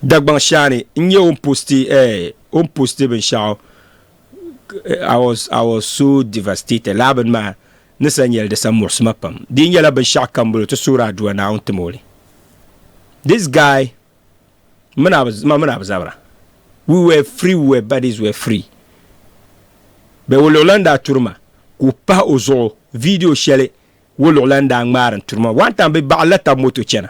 Dagbaŋ shaani n nyɛ o ni posti eh, o ni posti binshɛɣu I was, I was so devastated. Laa bini maa ni sa nyɛli di sa muɣisi ma pam. Di yi nyɛla binshɛɣu kam bolo ti suhiri aduwa Naawuni tim o li. This guy mini a bi, ma mini a bi zabira we were free, we were bodies were free. Bɛ woluɣulan daa turi ma ka o pahi o zuɣu video shɛli woluɣulan daa ŋmaari n turi ma. One time bɛ baɣilila taba moto chana.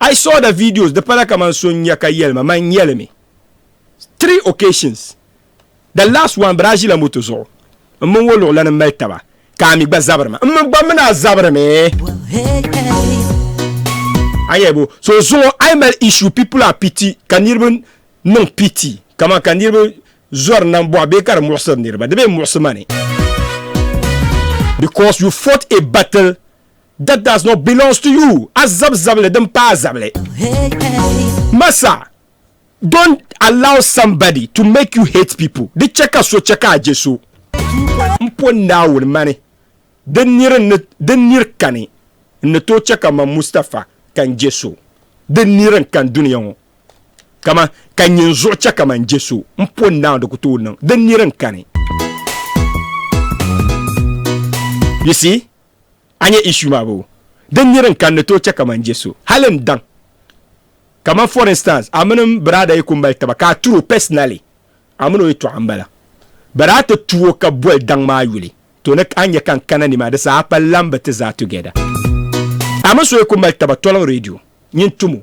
I saw the videos di pala kaman so n-nya ka yɛli ma man nyɛli mi three occasions the last one bɛ daa ʒila moto zuɣu m mini o luɣ lana m-mali taba ka a mi gba zabiri ma m mi gba mini a zabiri mi a nya bo so zuɣu a yi mali issue people are pity ka niriba niŋ pity kaman ka niriba zɔri nambɔɣu bee ka di muɣisiri niriba di bee muɣisi ma ni because you fought a battle that does not belongs to you azab zabili din pa azabili masa don't allow somebody to make you hate people di chɛ ka so chɛ ka a je so n po naawuni mani din niri din niri kani n ni tooi chɛ ka man mustafa ka n je so din niri n kan duniya ŋɔ kama ka nyin zuɣu chɛ ka man je so n po naawuni di ku tooi niŋ din niri n kani you see A nyɛ issue maa boo? Din niri n kan ni tooi chɛ ka man je so hali n daŋ. Kaman for instance a mini m biraada yi ku mali taba ka a turi o personally, a mini o yi tɔɣi m-bala. But a ti tu o ka boli daŋ maa yuli, to ni a nya ka n kana ni maa di saha a pa lan bi ti zaa together. A mini so yi ku mali taba toliŋ radio nyin tum o.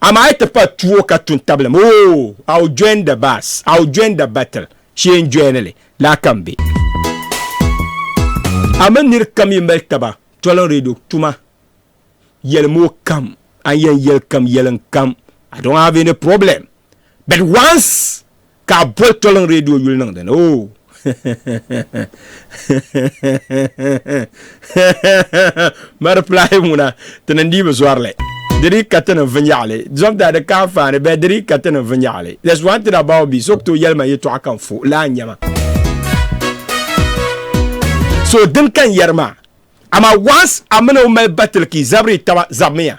Amaa yi ti pa tuo ka tu n-tabili ma, oh, I'll join the bus, I'll join the battle, Shee n joini li, laa ka m be. A mini nir kam yi mali taba toliŋ radio tuma, yɛlim o kam, a ni yɛn yɛli kam yɛliŋ kam, I don't have any problem. But once ka a boli toliŋ redio yuli niŋ dini o mari pilahi ŋuna ti ni dii bi zɔrili di dii ka ti ni vinyɛɣili zɔmda di ka anfaani bɛ di dii ka ti ni vinyɛɣili there's one thing about me so to yɛlima yɛtɔɣa kan fo laa nyɛma so din kan yɛri maa ama once a mini o mali batiliki zabiri taba zabimiya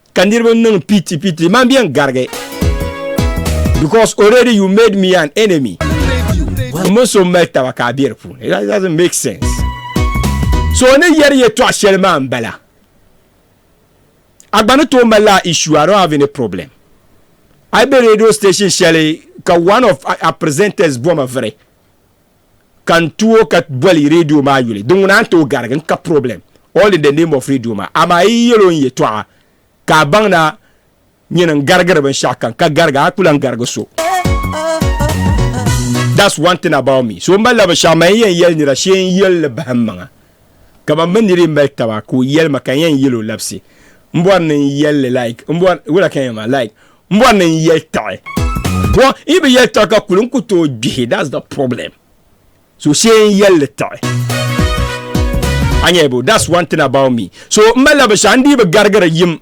ka niriba niŋ piti piti man bɛ n garigi because already you made me an enemy mini so mali taba ka a bɛ di puuni that doesn't make sense so ni yɛri yɛtɔɣa shɛli maa n bala a gba ni tooi mali la issue I don't have any problem I be radio station shɛli ka one of our presenters bɔma viri ka n tuo ka boli radio maa yuli di ŋuna n tooi garigi n ka problem all in the name of radio maa amaa yi yɛl o n yɛtɔɣa ka a baŋ na nyini n garigiri binshɛɣu ka n ka garigi a ku lan garigi so that's one thing about me so m malila binshɛɣu man yɛn yɛli nira shee n yɛli li bahim maŋa kamani bɛ niri mali taba ka o yɛli ma ka n yɛn yɛli o labisi m bɔri ni n yɛli like m bɔri wula ka yɛn ma like Mbo ni n yɛli tiɣi. Bɔ yi bi yɛli tiɣi ka kuli n ku tooi gbihi that's the problem. So shee n yɛlli tiɣi. A nyɛ bo that's one thing about me. So m malila binshɛɣu n dii bi garigiri yim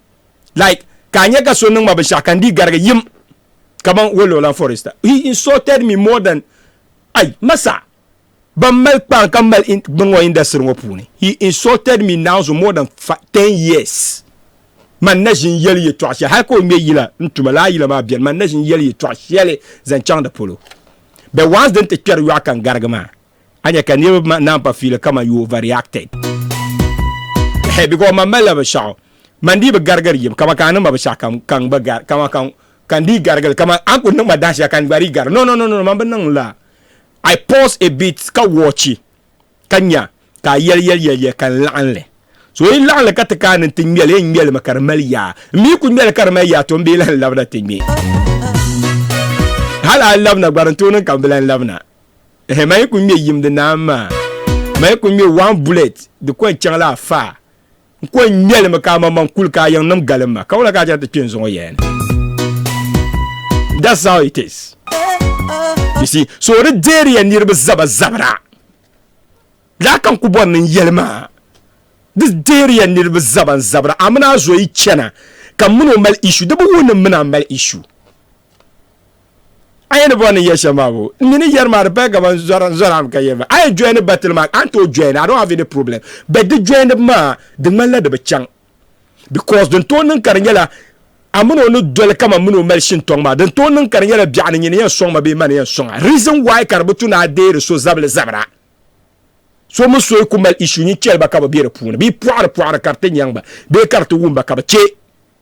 like ka a nyɛ ka so niŋ ma binshɛɣu ka n dii garigi yim kaman Wololan for instance he insulted me more than ai ma sa. ban mali kpari ka mali bin ŋɔ industry ŋɔ puuni he insulted me now so more than 10 years man na ʒin yɛli yɛtɔɣa shɛli hali ka o ŋmɛ yila n tuma laa yila maa bɛni man na ʒin yɛli yɛtɔɣa shɛli zaŋ chaŋ di polo bɛ once din ti kpɛri yɔɣu ka n garigi maa a nya ka niriba naan pa fiili kaman you overreacted hɛ because man malila binshɛɣu man dii bi garigiri yim kaman ka a niŋma binshɛɣu ka ka n gba gari kaman ka ka n dii garigili kaman a ni kuli niŋma dahinshɛli ka n gba dii gari no no no no man bi niŋ la I pause a bit ka wɔchi ka nya ka a yɛli yɛli yɛliya ka n laɣim li. So yi laɣim li ka ti kaani nti ŋme li, n ŋme li mi ka di mali yaa. M mi yi ku ŋme li ka di mali yaa, tɔ m bi lahi labina ti ŋme. Hal a labina gba di ni tooi niŋ ka m bi lahi labina. Ehe, man yi ku ŋme yim di naan maa. Man yi ku ŋme one bullet di ku yɛn chaŋ la a faa. N ko n ŋmɛli mi ka a maŋmaŋ kuli ka a yiŋnim galim ma, ka wula ka a chɛŋ ti kpe n zuŋɔ yɛya ni? That's how it is. You see, so di deeri ya niriba zaba zabira. Lala ka n ku bɔri ni n yɛli maa. Di deeri ya niriba zaba n zabira. A mini a zo yi chana ka m mini o mali issue. Di bi wuhi ni m mini a mali issue. a yi ni bɔri ni yɛ shɛm maa bo n mi ni yɛri maa di paya kaman zɔram ka yɛri maa a yi joini batili maa a ni tooi joini I don't have any problem but di joinibu maa di ŋmanila di bi chaŋ because din tooi niŋ ka di nyɛla a mini o ni doli kaman mini o mali shintɔŋ maa din tooi niŋ ka di nyɛla biɛɣu ni nyini yɛn sɔŋ ma bee ma ni yɛn sɔŋ a reason why ka di bi tu ni a deeri so zabili zabira so mi so yi ku mali issue nyin chɛli ba ka bi be di puuni bee pɔɣiri pɔɣiri ka di ti nyaŋ ba bee ka di ti wum ba ka bi chɛ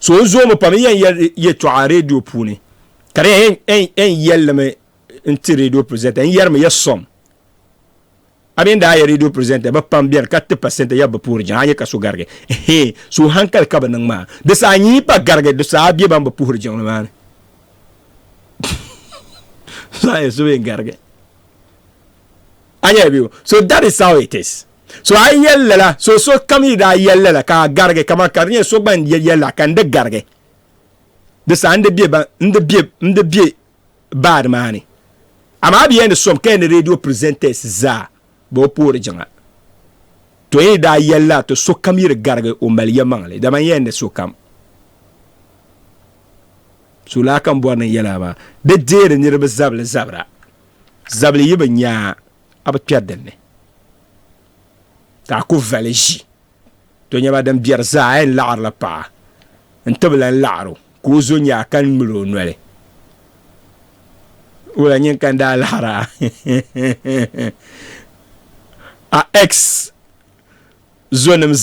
So n zoomi pam n yɛn yɛli yɛtɔɣa redio puuni ka di yɛn yɛllimi n ti redio presenter n yɛrimi ya sɔm a mini daa ya redio presenter bi pam bɛni ka ti pasenta ya bi puhiri jiŋ a nyɛ ka so garigi hee so hankali ka bi niŋ maa di saa nyi pa garigi di saa bɛ ban bi puhiri jiŋli maa ni so yɛn garigi a nyɛla bɛ so that is how it is So a yi yɛli lala, so sokam yi daa yɛli lala ka a garigi, kaman ka di nyɛ so gba n-yɛli lala ka n di garigi. Di saha n di be baadi maa ni. Amaa a bi yɛn di som ka yɛn di radio presenters zaa bee o poori jiŋa. To yi daa yɛli lala ti sokam yi di garigi o mali yɛlimaŋli li, dama n yɛn di sokam. So laa ka n bɔri ni n yɛli a maa, di deeri niriba zabili zabira, zabili yi bi nya a. a bi kpɛri dinni ka a ku vali ʒi to nyɛba din biɛri zaa a yɛn laɣirila paɣa n ti bi lan laɣir o ka o zo nyaa ka ŋmil o noli wula nyin ka n daa laɣira a ex zonim zaa